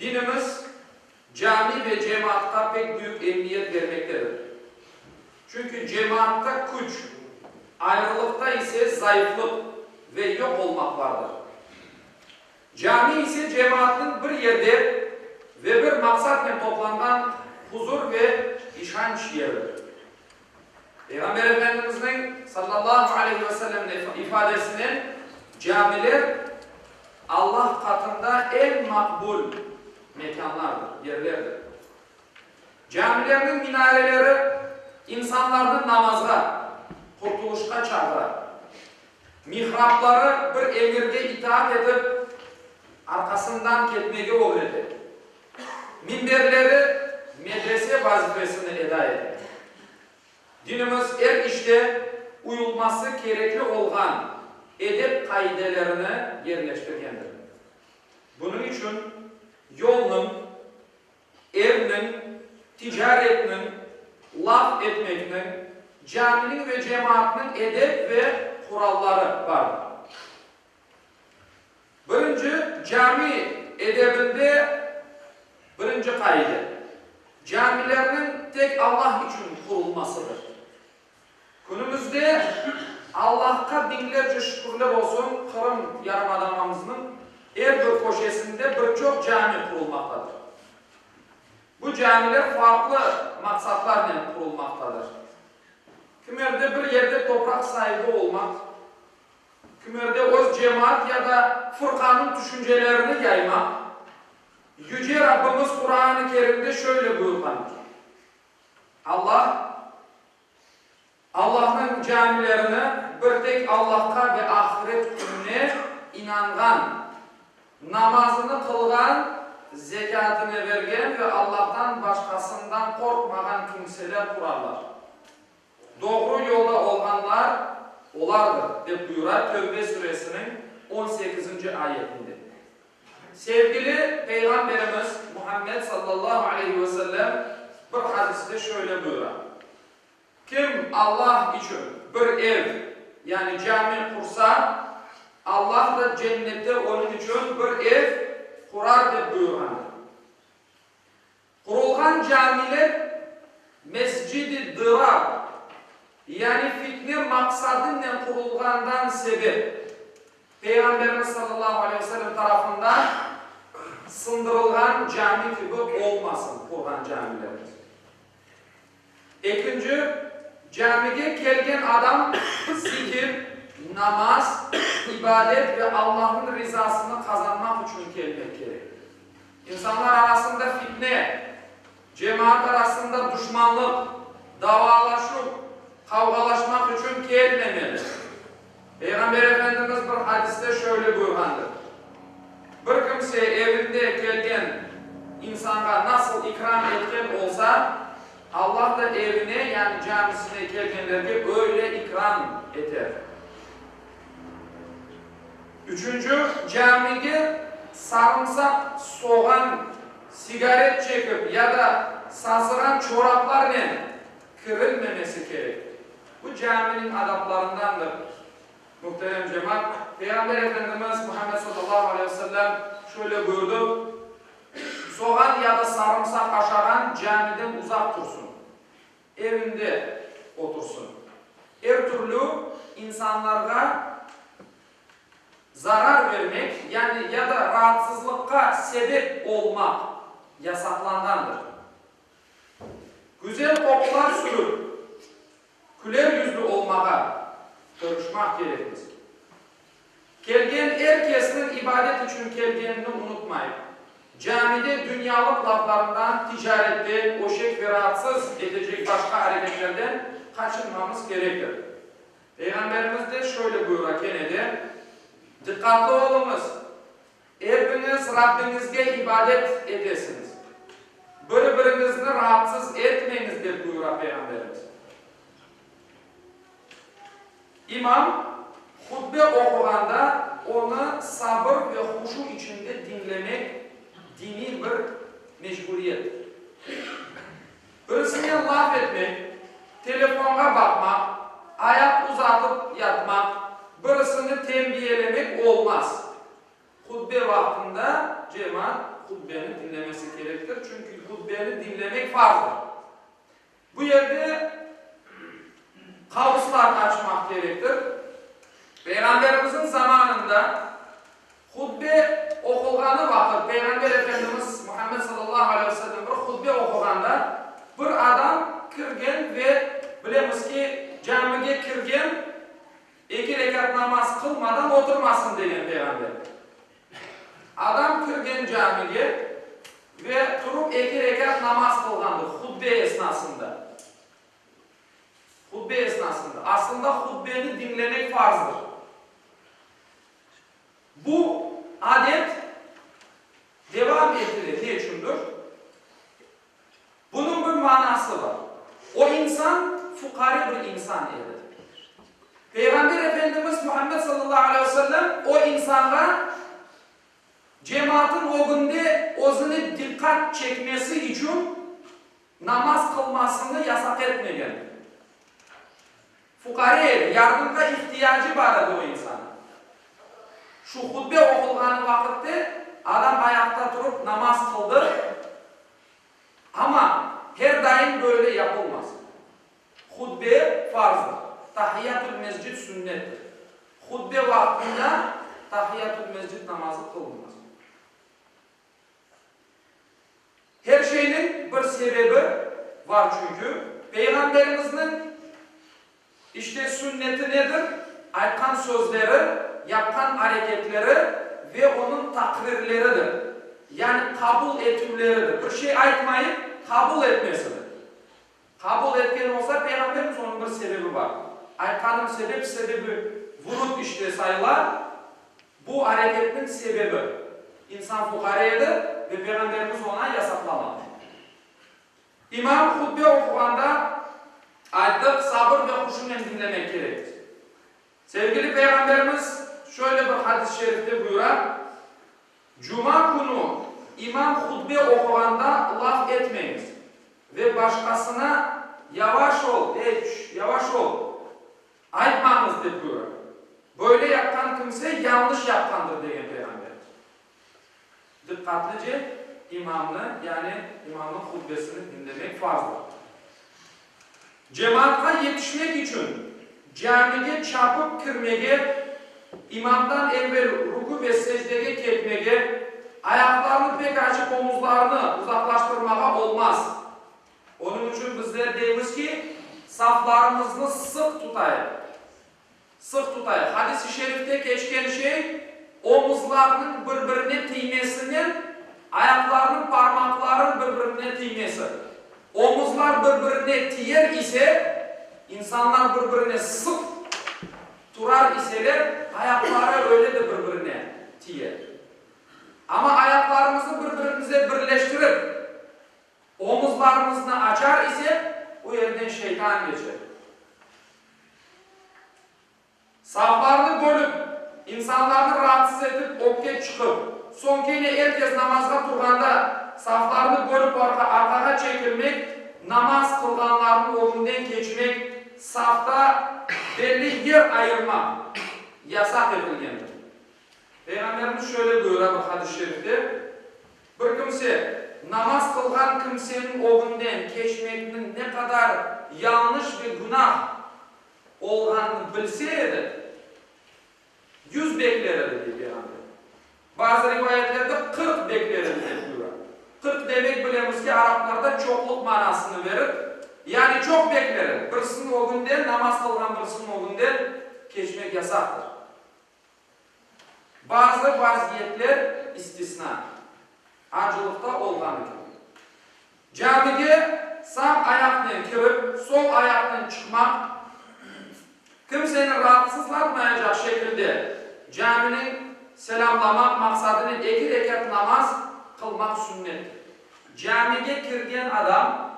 Dinimiz cami ve cemaatqa pek büyük emiyet bermektedir. Çünki cemaatta küç, ayrılıqta ise zayıflıq ve yoq olmaq vardır. Cami ise cemaatnıñ bir yerde ve bir maqsatnen toplanğan huzur ve işanç yeridir. Peyğamber Efendimizniñ, sallallahu aleyhi ve sellem, ifadesinen, camiler Allah qatında eñ maqbul mekânlardır, yerlerdir. Camilerniñ minareleri insanlarnı namazğa, qurtuluşqa çağıra. Mihrabları bir emirge itaat etip, arqasından ketmege ögrete. minberleri medrese vazifesini eda ete. Dinimiz er işte uyulması kerekli olğan edep qaidelerini yerleştirgendir. Bunıñ içün yolnıñ, evniñ, ticaretniñ, laf etmekniñ, caminiñ ve cemaatnıñ edep ve quralları bardır. Birinci cami edebinde birinci qaide, camilerniñ tek Allah içün qurulmasıdır. Künümizde Allahqa biñlerce şükürler olsun, Qırım yarımadanamızınıñ er bir köşesinde bir çoq cami qurulmaqtadır. Bu camiler farqlı maqsatlarnen qurulmaqtadır. Kimerde bir yerde topraq saibi olmaq, Kimerde öz cemaat ya da fırqanıñ tüşüncelerini yaymaq, Yüce Rabbimiz Quran-ı Kerimde şöyle buyurğandır, Allah, Allahnıñ camilerini bir tek Allahqa ve ahiret kününe inanğan, namazını qılğan, zekâtını bergen ve Allahtan başqasından qorqmağan kimseler qurarlar. Doğru yolda olğanlar olardır, dep buyura Tövbe suresiniñ on sekizinci ayetinde. Sevgili Peyğamberimiz Muhammed sallallahu aleyhi ve sellem bir hadiste şöyle buyura, Kim Allah içün bir ev, yani cami qursa, Allah da Cennette onıñ içün bir ev qurar, dep buyurğandır. Qurulğan camiler Mescid-i Dırar, yani fitne maqsadınen qurulğandan sebep, Peyğamberimiz sallallahu aleyh ve sellem tarafından sındırılğan cami kibi olmasın, qurğan camilerimiz. Ekinci, camige kelgen adam zikir, namaz, ibadet ve Allahnıñ rizasını qazanmaq içün kelmek kerek. İnsanlar arasında fitne, cemaat arasında duşmanlıq, davalaşuv, qavğalaşmaq içün kelmemeli. Peyğamber Efendimiz bir hadiste şöyle buyurğandır, Bir kimse evinde kelgen insanğa nasıl ikram etken olsa, Allah da evine, yani camisine kelgenlerge öyle ikram eter. Üçünci, camide sarımsaq, soğan, sigaret çekip ya da sazığan çoraplarnen kirilmemesi kerek. Bu caminiñ adaplarındandır. Muhterem cemaat, Peyğamber Efendimiz Muhammed sallallahu aleyhi ve sellem şöyle buyurdı, Soğan ya da sarımsaq aşağan camiden uzaq tursın, evinde otursın. Er türlü insanlarğa zarar vermek, yani ya da raatsızlıqqa sebep olmaq yasaqlanğandır. Güzel qoqular sürüp, küler yüzlü olmağa tırışmaq kerek bizge. Kelgen er kesniñ ibadet içün kelgenini unutmayıq. Camide dünyalıq laflarından, ticarette, öşek ve raatsız etecek başqa areketlerden qaçınmamız kerektir. Peyğamberimiz de şöyle buyura, kene de, Diqqatlı oluñız! Epiñiz Rabbiñizge ibadet etesiñiz. Bir-biriñizni raatsız etmeñiz, dep buyura Peyğamberimiz. İmam hutbe oquğanda onı sabır ve huşu içinde diñlemek diniy bir mecburiyettir. Özüne laf etmek, telefonğa baqmaq, ayaq uzatıp yatmaq, birisini tenbiyelemek olmaz. Hutbe vaqtında cemaat hutbeni diñlemesi kerektir, çünki hutbeni diñlemek farzdır. Bu yerde qavuslarnı açmaq kerektir. Peyğamberimizniñ zamanında. Hutbe oqulğanı vaqıt, Peyğamber Efendimiz Muhammed sallallahu aleyhi ve sellem bir hutbe oquğanda, bir adam kirgen ve bilemiz ki, camige kirgen eki rekat namaz qılmadan oturmasın degen Peyğamber. Adam kirgen camige ve turıp eki rekat namaz qılğandır hutbe esnasında. Hutbe esnasında. Aslında hutbeni diñlemek farzdır. Bu adet devam etile ne içündir? Bunıñ bir manası bar. O insan fuqare bir insan edi. Peyğamber Efendimiz Muhammed sallallahu aleyh ve sellem o insanğa cemaatın ögünde özüne diqqat çekmesi içün namaz qılmasını yasaq etmegen. Fuqara ev, yardımğa ihtiyacı bar edi o insannıñ. Şu hutbe oqulğanı vaqıtte adam ayaqta turıp namaz qıldı, amma her daim böyle yapılmaz. Hutbe, farzdır, Tahiyyatül-mescid sünnettir. Hutbe vaqtında Tahiyyatül-mescid namazı qılınmaz. Her şeyniñ bir sebebi var çünkü Peyğamberimizniñ işte sünneti nedir, aytqan sözleri, yapqan areketleri ve onıñ takrirleridir. Yani qabul etüvleridir. Bir şey aytmayıp qabul etmesidir. Qabul etken olsa Peyğamberimiz onıñ bir sebebi var. Aytqanım sebep, sebebi vurut işte sayla. Bu areketniñ sebebi, insan fuqara edi ve Peyğamberimiz oña yasaqlamadı. İmam hutbe oquğanda ayttıq, sabır ve huşunen diñlemek kerek. Sevgili Peyğamberimiz şöyle bir hadis-i şerifte buyura, Cuma künü imam hutbe oquğanda laf etmeñiz ve başqasına Yavaş ol, ey, çüş, yavaş ol! Aytmañız, dep buyura. Böyle yapqan kimse yañlış yapqandır, degen Peyğamber. Diqqatlıce imamnı, yani imamnıñ hutbesini diñlemek farzdır. Cemaatqa yetişmek içün camige çapıp kirmege, imamdan evel rükü ve secdege ketmege, ayaqlarını pek açıp omuzlarını uzaqlaştırmağa olmaz. Onıñ içün bizler deymiz ki, saflarımıznı sıq tutayıq. Sıq tutayıq. Hadis-i şerifte keçken şey, omuzlarnıñ bir-birine tiymesinen ayaqlarnıñ parmaqlarınıñ bir-birine tiymesi. Omuzlar bir-birine tiyer ise, insanlar bir-birine sıq turar iseler, ayaqları öyle de bir-birine tiyer. Amma ayaqlarımıznı bir-birimize birleştirip, Omuzlarımıznı açar isek, bu yerden şeytan keçer. Saflarnı bölip, insanlarnı raatsız etip, öpke çıqıp, soñ kene er kes namazğa turğanda saflarnı bölip arqağa çekilmek, namaz qılğanlarnıñ ögünden keçmek, safta belli yer ayırmaq yasaq etilgendir. Peyğamberimiz şöyle buyura bir hadis-i şerifte, Bir kimse, namaz qılğan kimseniñ ögünden keçmekniñ ne qadar yañlış ve günah olğanını bilse edi, yüz bekler edi, dep beyan ete. Bazı rivayetlerde qırq bekler edi, dep buyura. Qırq demek, bilemiz ki, araplarda çoqluq manasını verir, yani çoq bekler edi. Birisiniñ ögünden, namaz qılğan birisiniñ ögünden keçmek yasaqtır. Bazı vaziyetler istisna, acılıqta olğan kibi. Camige sağ ayaqnen kirip, sol ayaqnen çıqmaq, kimseni raatsızlatmayacaq şekilde camini selâmlamaq maqsadınen eki rekât namaz qılmaq sünnettir. Camige kirgen adam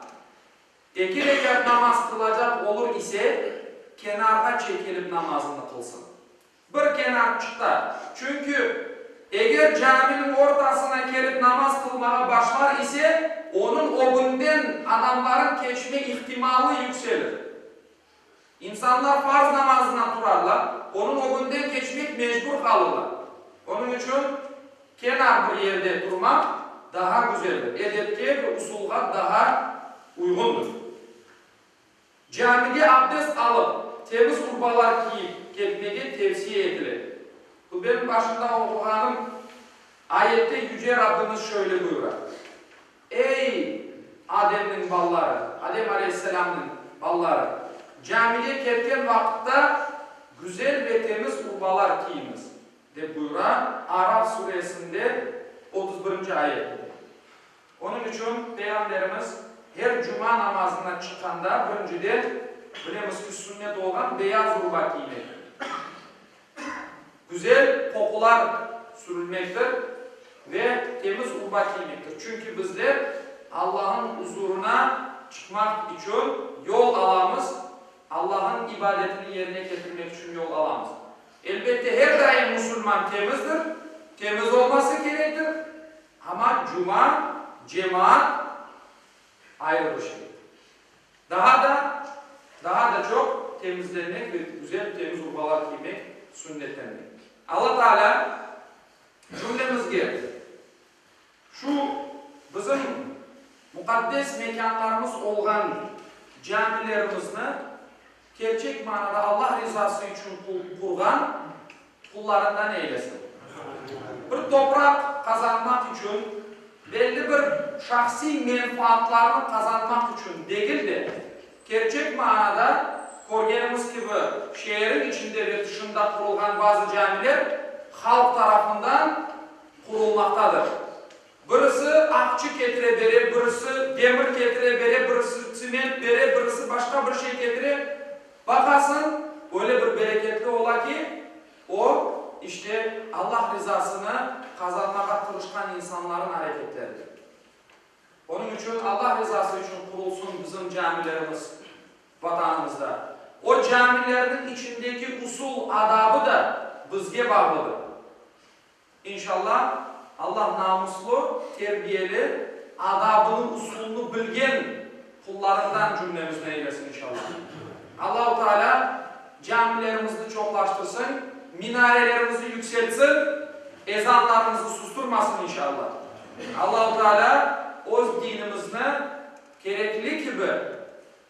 Eger eger namaz qılacaq olur ise, kenarğa çekilip namazını qılsın. Bir kenarçıqta. Çünki eger caminiñ ortasına kelip namaz qılmağa başlar ise, onıñ ögünden adamlarnıñ keçme ihtimalı yükselir. İnsanlar farz namazına turarlar, onıñ ögünden keçmek mecbur qalırlar. Onıñ içün kenar bir yerde turmaq daha güzeldir, edepke ve usulğa daha uyğundır. Camige abdest alıp, temiz urbalar kiyip ketmege tevsiye etile. Hutbenin başında oquğanım ayette Yüce Rabbimiz şöyle buyura. Ey, Ademniñ balaları, Adem aleyhisselamnıñ balaları, camige ketken vaqıtta güzel ve temiz urbalar kiyiñiz, dep buyura Araf suresinde otuz birinci ayette. Onıñ içün Peyğamberimiz her cuma namazına çıqqanda, birinciden, bilemiz ki, sünnet olğan beyaz urba kiyinedi. Güzel qoqular sürülmektir ve temiz urba kiymektir. Çünki bizler Allahnıñ uzurına çıqmaq içün yol alamız, Allahnıñ ibadetini yerine ketirmek içün yol alamız. Elbette, her daim musulman temizdir, temiz olması kerektir, amma cuma, cemaat ayrı bir şeydir. Daha da, daha da çoq temizlenmek ve güzel, temiz urbalar kiymek sünnetlengen. Alla Taalâ cümlemizge şu bizim muqaddes mekânlarımız olğan camilerimizni kerçek manada Alla rizası içün qurğan, qullarından eylesin. Bir topraq qazanmaq içün, belli bir şahsiy menfaatlarnı qazanmaq içün degil de, kerçek maanada, körgenimiz kibi, şeeriñ içinde ve tışında qurulğan bazı camiler halq tarafından qurulmaqtadır. Birisi aqçı ketire bere, birisi demir ketire bere, birisi tsement bere, birisi başqa bir şey ketire. Baqasıñ, öyle bir bereketli ola ki, o, işte, Allah rizasını qazanmağa tırışqan insanların areketleridir. Onıñ içün Allah rizası içün qurulsın bizim camilerimiz Vatanımızda. O camilerniñ içindeki usul, adabı da bizge bağlıdır. İnşalla, Allah namuslı, terbiyeli, adabını, usulını bilgen qullarından cümlemizni eylesin, inşalla. Allahu Teala camilerimizni çoqlaştırsın, minarelerimizni yükseltsin, ezanlarımızı susturmasın, inşalla. Allahu Teala öz dinimizni kerekli kibi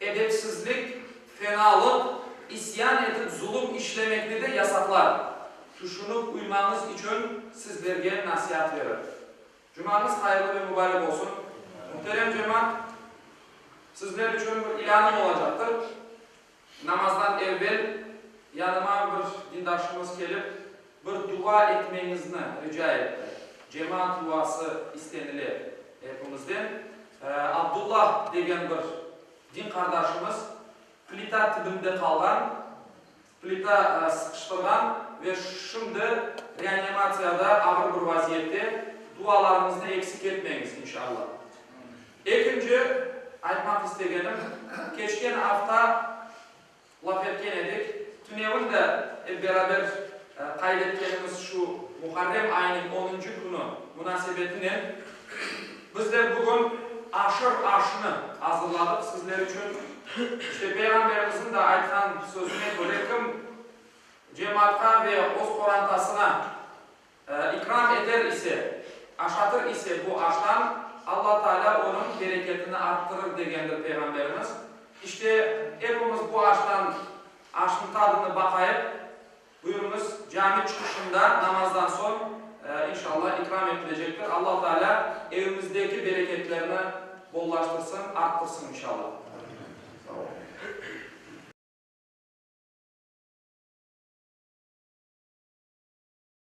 Edepsizlik, fenalıq, isyan etip zulum işlemekni de yasaqlar. Tüşünip uymañız içün sizlerge nasiat verir. Cumañız hayırlı ve mübarek olsun. Muhterem cemaat, sizler içün bir ilânım olacaqtır. Namazdan evvel yanıma bir dindarşımız kelip. Bir dua etmeñizni rica etti. Cemaat duası istenile epimizden. Abdulla degen bir din qardaşımız plita tibinde qalğan, plita sıqıştırğan ve şimdi reanimatsiyada ağır bir vaziyette. Dualarıñıznı eksik etmeñiz, inşalla. Ekinci aytmaq istegenim, keçken afta laf etken edik. Tünevin de ep beraber qayd etkenimiz şu, Muharrem ayınıñ onuncu künü munasebetinen bizler bugün aşır aşnı azırladıq sizler içün. İşte Peyğamberimizniñ de aytqan sözüne köre, kim cemaatqa ve öz qorantasına, İkram eter ise, aşatır ise bu aştan, Alla Taalâ onıñ bereketini arttırır, degendir Peyğamberimiz. İşte, epimiz bu aştan, aşnıñ tadını baqayıq. Buyurıñız, cami çıqışında, namazdan soñ, inşallah, ikram etilecektir. Alla Taalâ evimizdeki bereketlerni bollaştırsın, arttırsın, inşallah. Sağ olun.